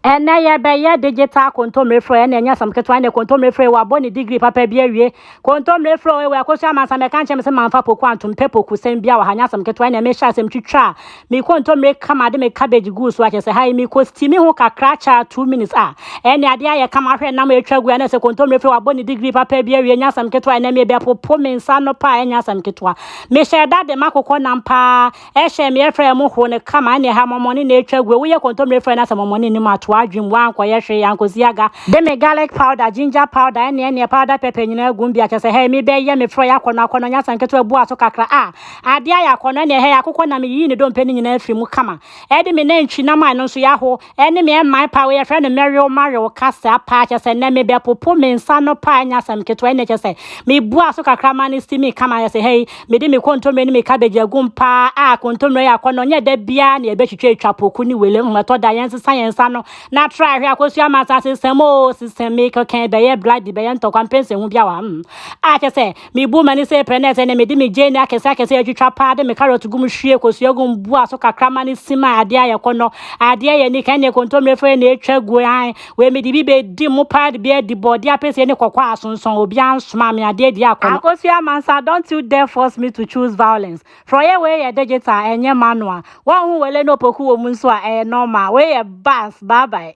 Ɛnnɛ yɛbɛyɛ digital kontommire frɛ ɛna ɛnyɛ asɛm ketewa ɛnɛ kontommire frɛ wabɔ ne degree papa bi awie kontommire frɛ ɛwɔ ɛkɔ so amansa mɛka nkyɛn me sɛ manfa poku antom pɛ poku sɛm bi a wɔ ha nyɛ asɛm ketewa ɛnɛ mehyɛ asɛm twitwa a me kontommire kama de me cabbage guu so akyɛ sɛ ha yi me kɔ steam ho kakra kyɛ a two minutes a ɛnɛ adeɛ ayɛ kama ahwɛ nam atwa gu ɛnɛ sɛ kontommire frɛ wabɔ ne degree papa bi awie nyɛ asɛm ketewa ɛnɛ mebɛpopo me nsa no paa ɛnyɛ asɛm ketewa mehyɛ da de makokɔ nam paa Ɛhyɛ me ɛfrɛ ɛmo ho ne kama ɛne ɛha mɔmɔne na ɛtwa gu woyɛ kɔntɔmire frɛ na sɛ mɔmɔne nim ato adwem wa nkɔyɛ hwee ankosi aga de me garlic powder ginger powder ɛne ɛneɛ powder pepper nyinaa gum bia kyɛsɛ hɛɛ me bɛyɛ me frɔ yɛ akɔnɔ akɔnɔ nyɛ asɛm ketewa bua so kakra a adeɛ ayɛ akɔnɔ ɛneɛ hɛɛ akokɔ na me yiyi ne dɔmpɛ no nyinaa firi mu kama ɛde me nantwi nam a ɛno nso yɛ aho Ɛne me ɛman paa wei yɛfrɛ no mɛwew mawew kasaa paa kyɛsɛ nɛ me bɛpopo me nsa no paa nyɛ asɛm ketewa ɛne kyɛsɛ me bua so kakra ma no si me kama yɛsɛ hɛi me de me kontomire ne me cabbage agum paa a kontomire yɛ akɔnɔ nyɛ da biaa na yɛbɛtwitwa atwa poku ne wele hmm ɛtɔ da yɛn sesa yɛn nsa no na tra ahwɛ akɔsu ama nsa sesɛm oo sesɛm me kɛkɛn bɛyɛ bloody bɛyɛ ntɔkwa mpɛnsɛ hu bi awa hmm a kyɛsɛ Mibu m'ani sɛ prɛ na ɛsɛ nnɛ mede me gyeene akɛse akɛse atwitwa paa de me carrot gu mu hwie kosua gu mu bua so kakra ma no sim a adeɛ ayɛ kɔnnɔ. Adeɛ yɛ anika ɛnneɛ kontommire frɛ na ɛtwa gu ae. Wei mede bi bɛdi mu paa de bi adi bɔɔdeɛ apesie ne kɔkɔɔ a asonsɔn obiara nsomaa me adeɛ adi akɔnnɔ. Akosua Mansa don't you dare force me to choose violence. Frɔeɛ wei yɛ digital ɛnyɛ manual. Wɔnho wele ne opoku wɔ mu nso a ɛyɛ normal. Wei yɛ bass, bye bye.